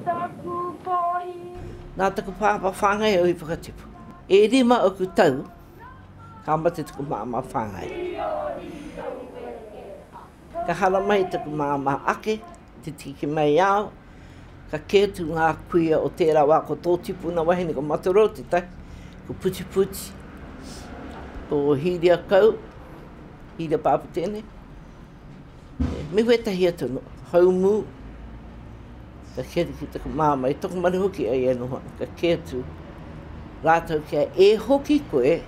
Taku pohi. Nā taku pāpā whāngai au i whakatipu. E rima oku tau ka mate taku māmā whāngai. Ka haramai taku māmā ake te tiki mai ao, ka kē atu ngā kuia o tērā wā ko tō tipuna wahine ko Matarou tētahi, ko Putiputi, ko Hīriakau, Hīria Pāpū tēnei. me wētahi atu no, haumū, ka kē atu ki taku māmā, i taku maru hoki ai e noho ana, ka kē atu rātou kia e hoki koe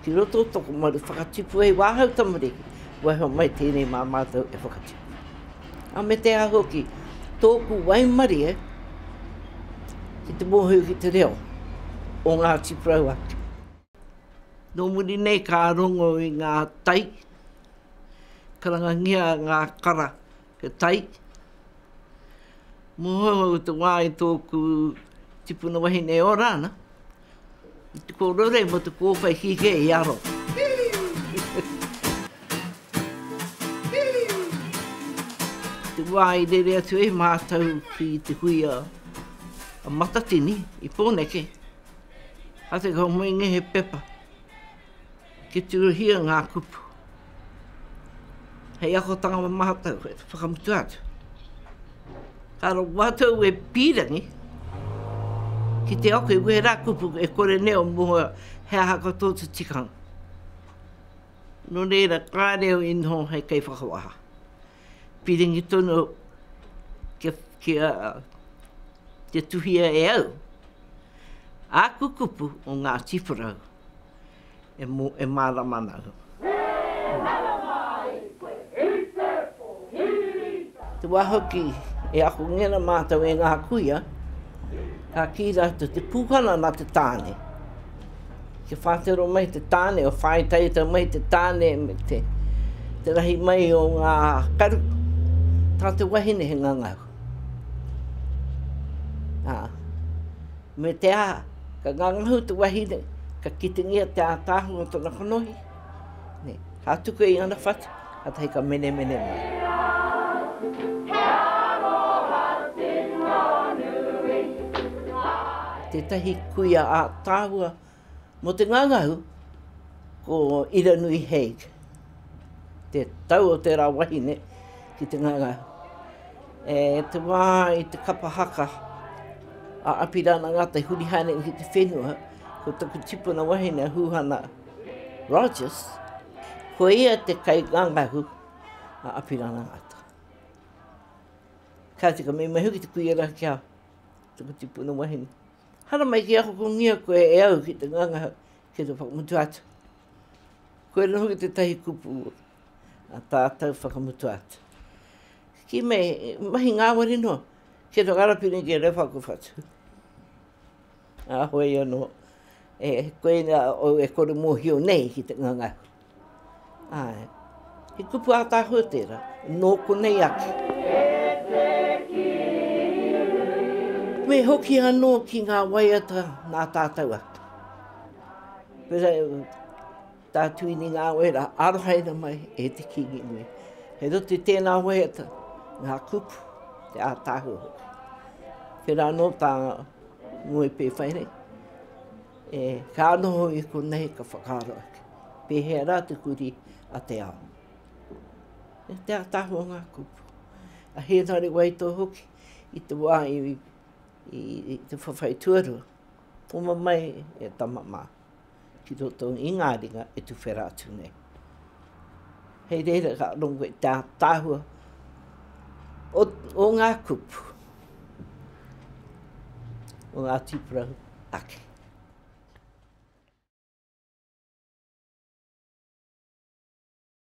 ki roto o tōku maru whakatipu hei wāhau tamariki, kua heo mai tēnei mā mātou e whakatipu. A me te aha hoki, tōku waimarie ki te mōhio ki te reo o Ngāti Porou ake. Nō muri nei ka rongo i ngā tai, karangangia ngā kara he tai. Mohohou te wā i tōku tipuna wahine e ora ana, i te kōrore mō te kōwhai kikē i aro. Te wā i rere atu e mātou ki te huia a Matatini i Pōneke, Hake ka moe nge he pepa. Ki tirohia nga kupu. Hei akotanga mo matou e whakamutu atu. Ka ro matou e pirangi ki te ako i wera kupu e kore neo mo he aha ka to te tikanga. No reira ka reo inho hei kei whakawaha. Piringi tonu kia te tuhia e au āku kupu o ngā tīwharau e mārama ana au. He mārama ai koe he purple, he rīta. Te wā hoki e ahongera mātou e ngā kuia, ka kī rātou te pūhana nā te tāne. kia whātero mai te tāne, o whāi taiata mai te tāne me te, te rahi mai o ngā karu. Tā te wahine he ngangau. Ā, me te ā, ka ngangahu te wahine, ka kitingia te ātaahua o tōna kanohi. Ka tuku i ngana whatu, katahi ka menemene mai. Tetahi kuia ātaahua mo te ngangahu ko Iranui Haig, te tau o tera wahine ki te ngangahu. E te wā i te kapa haka a Apirana Ngata i huri haere ki te whenua, ko taku tipuna wahine a Huhana Rogers, ko ia te kaingangahu a Apirana Ngata. Kāti ka mei mai hoki te kuia rā kia tuku tipuna wahine. Hara mai ki ako kungia koe e au ki te ngangahu ki te whakamutu atu. Koe rā hoki te tahi kupu a tātou whakamutu atu. Ki mei, mahi ngāwari noa, ki to Arapiri ki Rewhaku Whatu. Ā, hoi anō, e koinā ou e kore mōhio nei ki te ngangahau. Āe, he kupu ātaahua tērā, nō konei ake. Me hoki anō ki ngā waiata nā tātou atu. Tātou i Ngāwera, arohaina mai e te Kīngi nui. Kei roto i tēnā waiata ngā kupu, te ātaahua hoki. Tērā anō tā Ngoi Pēwhaire, e, ka noho i konei ka whakaaro ake. Pēhea rā te kuri a te ao. E te ātaahua ngā kupu. A Hēnare Waito hoki, i te wā i, i, i te whawhai tuarua, poma mai e tama mā. ki roto i ngā ringa e tuwhera atu nei. Hei reira ka rongo i te ātaahua o, o ngā kupu, o ngā tīpurahu ake.